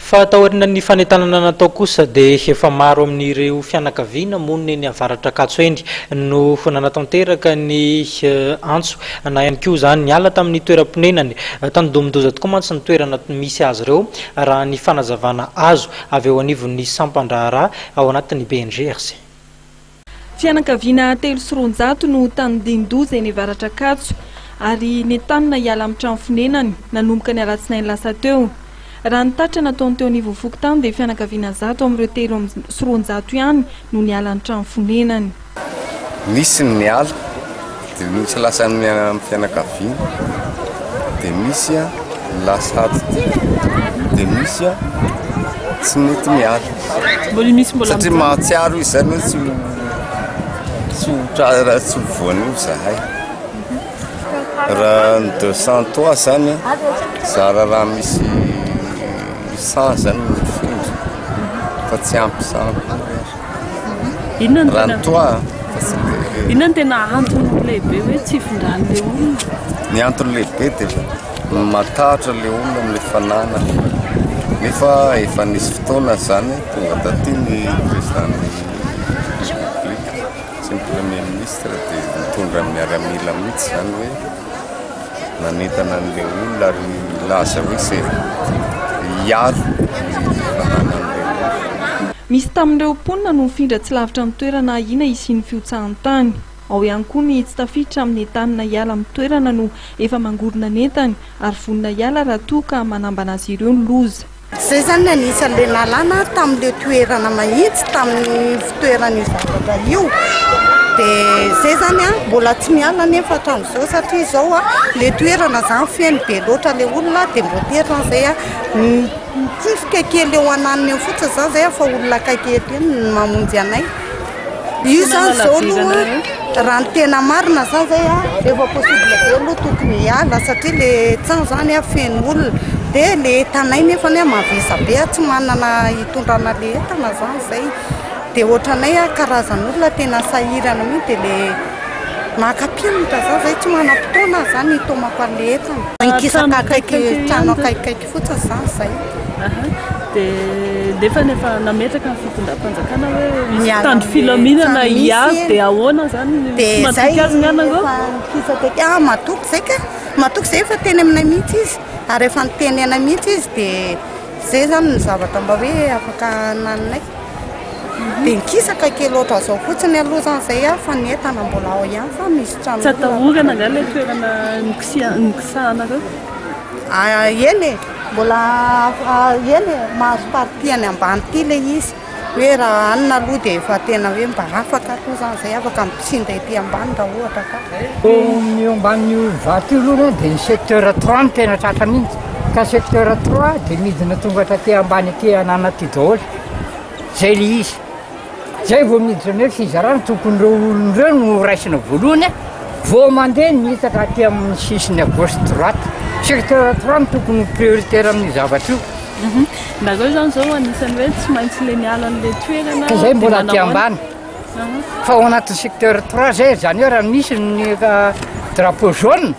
Fa taoriana ny fanentanana natao kosa dia efa maro amin'ireo fianakaviana monina eny Avaratr'Ankatso eny no nanatanteraka ny antso na ihany koa izany niala tamin'ny toeram-ponenany. Tanidomin-doza tokoa mantsy ny toerana misy azy ireo raha ny fanazavana azo avy eo anivon'ny sampan-draharaha ao anatin'ny BNGRC. Fianakaviana telo sy roanjato no tandindoza eny Avaratr'Ankatso ary nentanina hiala amin'ny trano fonenany nanomboka ny alatsinainy lasa teo. Raha ny tatitra nataon'ny teo anivon'ny fokontany dia fianakaviana zato amin'ireo telo sy roanjato ihany no niala ny trano fonenany. Nisy ny niala. Dia noho tsy lasany miaina amin'ny fianakaviany dia misy ny lasa adidiana, dia misy tsy mety miala. Mbola misy mbola Satria mahatsiaro izy izany hoe tsy ho tsy ho tra- tsy ho voan'io zahay. Raha ny deux cent trois zany zara raha misy cent zany ny mifindra fa tsy ampy cent koa. Inona no tena antony lehibe hoe tsy hifindran'ilay olona? Ny antony lehibe dia matahotra ilay olona amin'ilay fananany. Nefa efa nisy fotoana izany tonga taty ny président-n'ny république sy ny premier ministre dia nitondra ny miaramila mihitsy izany hoe. nanentana an'ilay olona ary nilaza hoe izay hiaro ny fananan'ilay olona. Misy tamin'ireo mponina no mifindra tsy lavitra ny toerana ahiana hisian'ny fihotsahan-tany. Ao ihany koa ny tsy tafiditra amin'ny entanina hiala amin'ny toerana no efa mangorona ny entany ary vonona hiala raha toa ka manambana azy ireo ny loza. Izay izany ny anisan'ilay nalana tamin'ilay toerana mahitsy tamin'ny fitoeran'io zavatra io. Dia izay izany an, mbola tsy miala anefa hatramin'izao satria izao an, ilay toerana izany feno be loatra ilay olona dia mbola terina izay an, mitsifika kely eo ananiny eo fotsiny izany izay an fa olona akaiky ery ihany no mamonjy anay. Io zany izao aloha raha ny tena marina zany zay a, efa possible be aloha tokony hiala satria le tsaho zany a feno olona, dia le entanay nefany a mavesa be a, tsy manana hitondrana le entana zany zay, dia ohatranay a karazan'olona tena sahirana mihintsy dia le maka mpianatra zany zay tsy manam-potoana aho zany hitomako an'le entana, mikisaka akaiky trano akaikikaiky. fotsiny zany zay Aha. Dia nefany efa nametraka ny fitondram-panjakana hoe misy mpitandro filaminana hiavy dia ahoana zany ny tsy matoky azy ny anareo? Ah, matoky zay ka. Matoky zay efa teny aminay mihitsy izy. Ary efa niteny anay mihitsy izy dia zay zany ny zavatra mba hoe afaka nananay. Mhm. Dia nikisaka kely loatra zao fotsiny aloha zany zay ah, fa ny entana mbola ao ihany fa misy trano. Tsy atahorana nga ilay toerana nikisiha- nikisahanareo? Ah eny e, mbola eny e, mahazo partie any ambany ity ilay izy, hoe raha hanina aloha dia efa tena hoe mba afaka aloha izany izay, afaka misinda ety ambany raha ohatra ka. Ny eo ambanin'io vato io aloha dia ny secteur trois no tena tratra mihitsy, ka secteur trois dia midina tonga taty ambany aty an'Anaty daholo, izay ilay izy. Zay vao miditra ny hoe fizarana, tokony ireo olona ireo no horaisina voalohany a! Vao mandeha ny hitsaka aty amin'ny sisiny à gauche droite. Secteur trois no tokony ho prioritaire amin'io zavatra io. Mhm. Nareo izany izao anisan'ny hoe tsy maintsy le miala an'ilay toerana. Ka izay mbola aty ambany. Mhm. Fa ao anatin'ny secteur trois zay, izany hoe raha misy ny euh, drapeau jaune,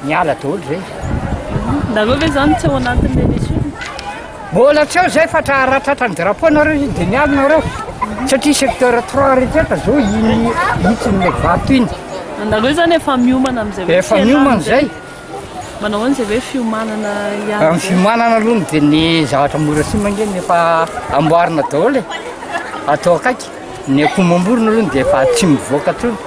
Niala daholo zay izy. Nareo ve zany tsy ao anatin'ny émission? Mbola tsy ao zay fa tra ratratra ny drapeau nareo izy de miala nareo. Satria secteur trois rehetra zao iny hitsiny le vato iny. Nareo zany efa miomana amizay hoe Efa miomana zay. Manao ahoana zay hoe fiomanana ihany. Amin'ny fiomanana aloha no dia ny zavatra mora simba ange ny efa amboarina daholo e. Atao akaiky. Ny akoho mamorona aloha no dia efa tsy mivoaka intsony.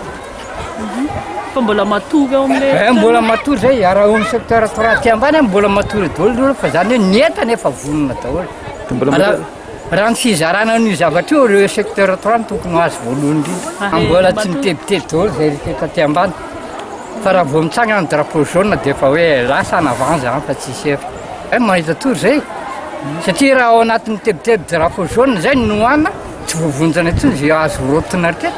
Fa mbola matory ao amin'ilay eh, mbola matory izay raha ao amin'ny secteur trois aty ambany a mbola matory daholo ireo fa izany hoe ny entana efa vonona daholo raha ny fizarana an'io zavatra io ireo secteur trois no tokony ho azy voalohany indrindra mbola tsy mitebiteby daholo izay rehetra eto aty ambany fa raha vao mitsangana ny drapeau jaune dia efa hoe lasa en avant izany fa tsisy hery eh mahita tory izay satria raha ao anatin'ny tebiteby drapeau jaune izay no nohanina tsy voavonjana intsony izay azo rotina hatrany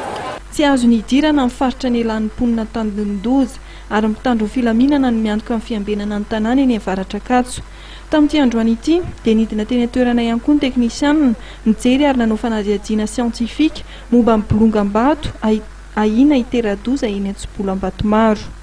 Tsy azony hidirana ny faritra nialan'ny mponina an-tanin-doza ary mpitandro ny filaminana no miantoka ny fiambenana ny tanàna eny Avaratr'Ankatso. Tamin'ity androany ity dia nidina teny an-toerana ihany koa ny teknisianina nijery ary nanao fanadihadiana siantifika momba ny bolongam-bato ahiana hitera-doza eny Antsibola Ambatomaro.